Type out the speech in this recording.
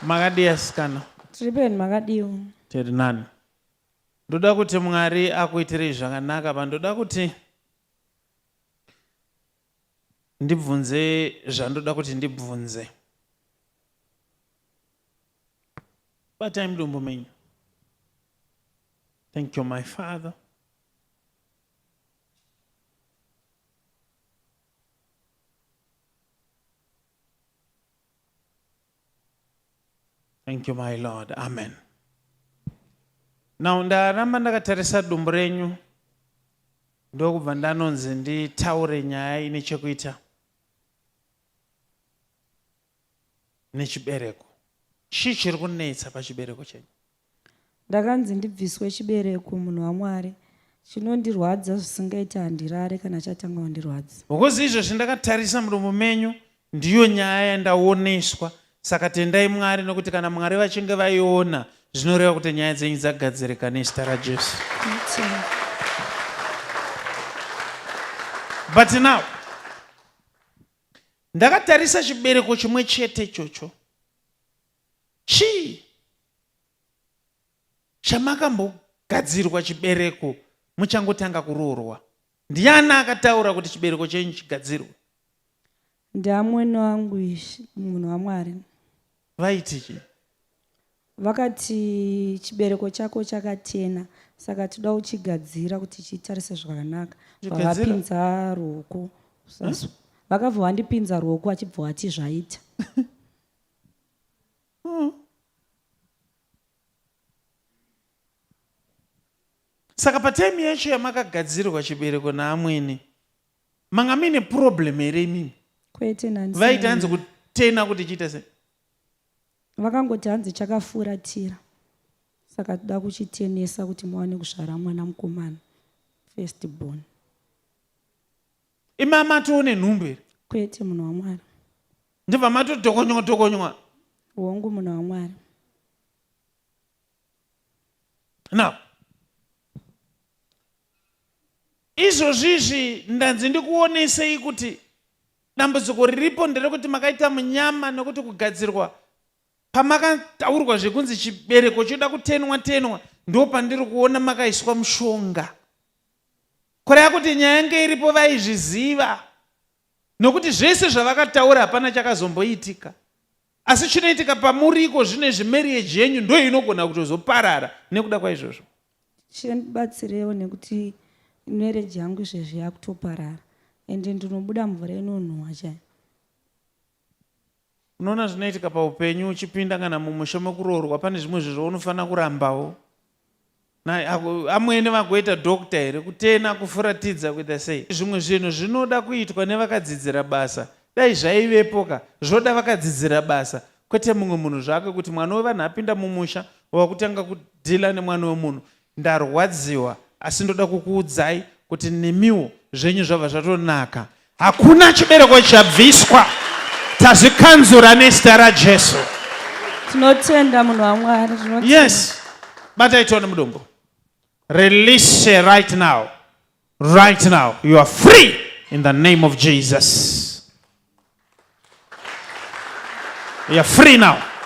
Makadii asikana? Tiri peni makadiwo. Tiri nani. Ndoda kuti Mwari akuitirei zvakanaka apa ndoda kuti ndibvunze zvandoda kuti ndibvunze. Batai mudumbu menyu. Thank you my father. Thank you my Lord. Amen. Now ndaramba ndakatarisa dumbu renyu ndokubva ndanonzi nditaure nyaya ine chekuita nechibereko chii chiri kunetsa pachibereko chenyu Ndakanzi ndibviswe chibereko munhu waMwari chinondirwadza zvisingaite handirare kana chatanga kundirwadza. Because izvozvi ndakatarisa muromo menyu ndiyo nyaya yandaoneswa saka tendai Mwari nokuti kana Mwari vachinge vaiona zvinoreva kuti nyaya dzenyu dzagadzirika nezita raJesu. But now ndakatarisa chibereko chimwe chete ichocho Chii chamakambogadzirwa chibereko muchangotanga kuroorwa? Ndiani akataura kuti chibereko chenyu chigadzirwe? Ndiamwene wangu ishi, munhu waMwari. Vaiti chii? Vakati chibereko chako chakachena saka tinoda kuchigadzira kuti chitarise zvakanaka. Chigadzira? Vakapinza ruoko. Vakabva vandipinza ruoko vachibva vati zvaita. hmm. saka patime yacho yamakagadzirirwa chibereko naamwene manga mine problem here imimi kwete nani vaiti hanzi kutena kuti chiita sei vakangoti hanzi chakafuratira saka toda kuchitenesa kuti muwane kuzvara mwana mukomana first born imama tione nhumbu here kwete munhu wamwari ndibva matodhokonywa dhokonywa hongu munhu wamwari now izvozvizvi ndanzi ndikuonesei kuti dambudziko riripo nderekuti makaita munyama nekuti kugadzirwa pamakataurwa zvekunzi chibereko choda kutenwa tenwa ndo pandiri kuona makaiswa mushonga kureva kuti nyaya yange iripo vaizviziva nokuti zvese zvavakataura hapana chakazomboitika asi chinoitika pamuri iko zvino izvi marriage yenyu ndo inogona kutozoparara nekuda kwaizvozvo chendibatsirewo nekuti marriage yangu izvezvi yakutoparara ende ndinobuda mvura inonhuwa chai unoona zvinoitika paupenyu uchipinda kana mumusha mekuroorwa pane zvimwe zvezvo unofanira kurambawo amwene vagoita doctor here kutena kufuratidza kuita sei zvimwe zvinhu zvinoda kuitwa nevakadzidzira basa dai zvaivepo ka zvoda vakadzidzira basa kwete mumwe munhu zvake kuti mwana wevanhu apinda mumusha wakutanga kudhila nemwana wemunhu ndarwadziwa asi ndoda kukuudzai kuti nemiwo zvenyu zvabva zvatonaka Hakuna chibereko chabviswa. Tazvikanzura nezita raJesu. Tinotenda munhu waMwari. Yes. Batai tione mudumbu. Release right now. Right now. You are free in the name of Jesus. You are free now.